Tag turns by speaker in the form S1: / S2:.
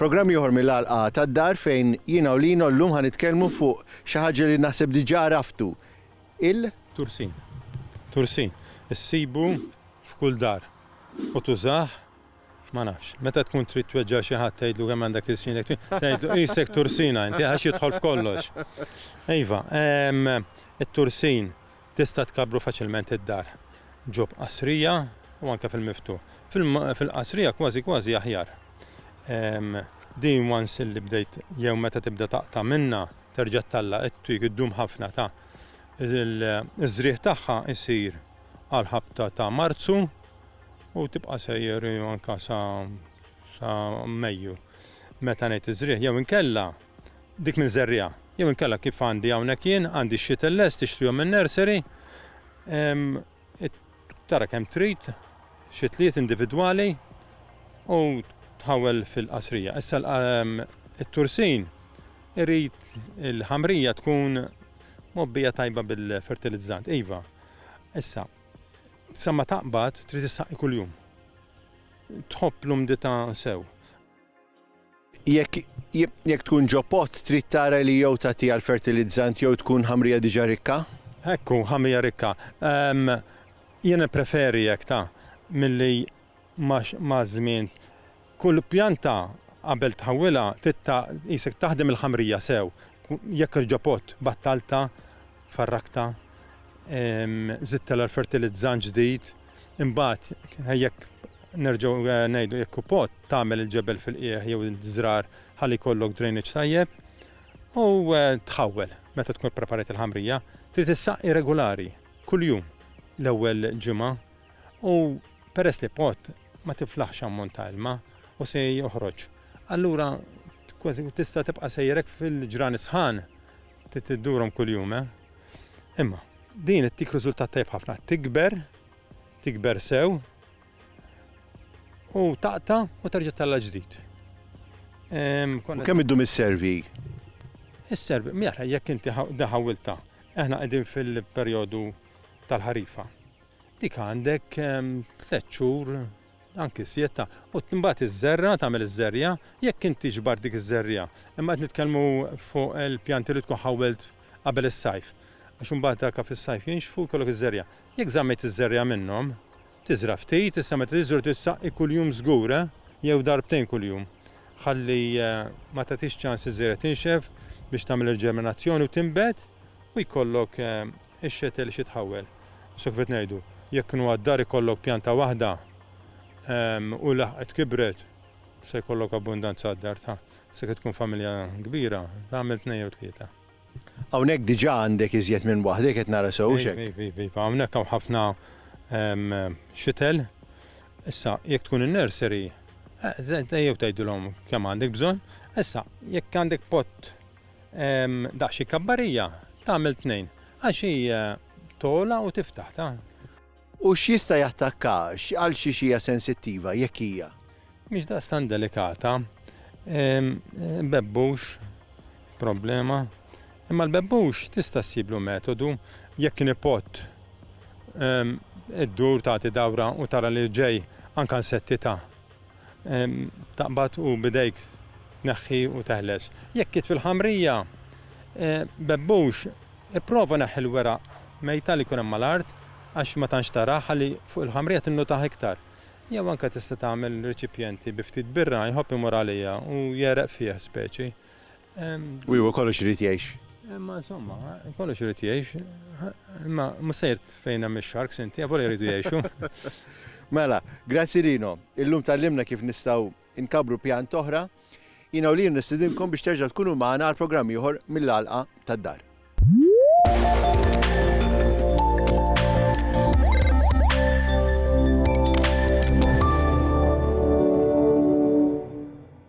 S1: Programm ieħor mill-Għalqa tad-Dar fejn jiena u Lino llum ħa nitkellmu fuq xi ħaġa li naħseb diġà għraftu, il. Tursin. Tursin. Issibu f'kull dar u tużah Ma nafx. Meta tkun trid tweġġa' xi ħadd tgħidlu kemm għandek ilsinek twil, tgħidlu qisek tursina inti għax jidħol f'kollox. Iva, it-tursin tista' tkabbru faċilment id-dar ġo b'qasrija u anke fil-miftuħ. Fil-qasrija kważi kważi aħjar. Din once illi bdejt jew meta tibda taqta' minnha terġa' ttalla' it-twig iddum ħafna ta' iż-żrigħ tagħha jsir għall-ħabta ta' Marzu. U tibqa' sejjer anke sa sa Mejju. Meta ngħid iż-żrigħ jew inkella dik minn żerriegħa. Jew inkella kif għandi hawnhekk jien, għandi x-shittle lest, tixtrihom min-nursery, tara kemm trid, shitliet individwali u tħawwel fil-qasrija. Issa it-tursin irid il-ħamrija tkun mgħobbija tajba bil-fertilizzant. Iva, issa, Sa ma taqbad trid issaqqi kuljum. Tħobb l-umdità sew. Jekk jekk tkun ġo pott trid tara li jew tagħtiha l-fertilizzant jew tkun ħamrija diġà rikka. Hekk hu, ħamrija rikka. Jien nippreferi hekk ta, milli maż-żmien kull pjanta qabel tħawwilha trid ta' qisek taħdem il-ħamrija sew, jekk irġopot, battaltha, farraktha, żidtilha l-fertilizzant ġdid, imbagħad jekk nerġgħu ngħidu jekk hu pot tagħmel il-ġebel fil-qiegħ jew iż-żrar ħalli jkollok drainage tajjeb u tħawwel meta tkun ippreparajt il-ħamrija, trid issaqqi regulari kuljum l-ewwel ġimgħa. U peress li pot ma tiflaħx ammont ta' ilma u se joħroġ, allura kważi tista' tibqa' sejjerek fil-ġrani sħan trid tiddurhom kuljum, eh? Imma din ittik riżultat tajjeb ħafna, tikber, tikber sew u taqta' u terġa' tella' ġdid. U kemm iddum isservi? Isservi, mela jekk inti ħawwiltha, aħna qegħdin fil-perjodu tal-ħarifa. Dik għandek tliet xhur, anki sietta, u mbagħad iżżerra, tagħmel iż-żerja, jekk int tiġbar dik iż-żerja. Imma qed nitkellmu fuq il-pjanti li tkun ħawwelt qabel is-sajf. Għax imbagħad daka fis-sajf jinxfu, jkollok iż-żerja. Jekk żammejt iż-żerja minnhom, tiżra' ftit, issa meta tiżra' trid ssaqqi kuljum żgur, jew darbtejn kuljum. Ħalli ma tagħtix ċans iż-żerja tinxef biex tagħmel il-ġerminazzjoni u tinbet u jkollok Ix-xetel xi tħawwel. Issa kif qed ngħidu, jekk kienu għad-dar ikollok pjanta waħda u laħqet kibret, se jkollok abbundanza għad-dar ta'. Issa kif tkun familja kbira, tagħmel tnejn jew tlieta. Hawnhekk diġà għandek iżjed minn waħda, jekk qed nara sew, hux hekk? Iva, iva, iva. Hawnhekk hawn ħafna xetel. Issa, jekk tkun in-nursery, ejjew tgħidilhom kemm għandek bżonn. Issa, jekk għandek pott Daqs xi kabbarija tagħmel tnejn, għax hi togħla u tiftaħ ta'. U x'jista' jattakka, għal xiex hija sensittiva, jekk hija. Mhix daqstant delikata. Bebbux, problema. Imma l-bebbux tista' ssiblu metodu, jekk nipott iddur tagħti dawra u tara li ġej anke nsetti ta'. Taqbad u b'idejk tneħħi u teħles. Jekk qiegħed fil-ħamrija, bebbux, ipprova neħħi l-weraq mejta li jkun hemm mal-art għax ma tantx taraha ħalli fuq il-ħamrija tinnutaha iktar. Jew anke tista' tagħmel riċipjenti bi ftit birra, jħobb imur għaliha u jegħreq fih speċi. U hu kollox irid jgħix. Imma insomma, kollox irid jgħix. Imma mhux sejr fejn hemm ix-sharks inti, avolja jridu jgħixu. Mela, grazzi Lino. Illum tgħallimna kif nistgħu nkabbru pjant oħra. Jiena u Lino nistidinkom biex terġgħu tkunu magħna għal programm ieħor mill-għalqa tad-dar.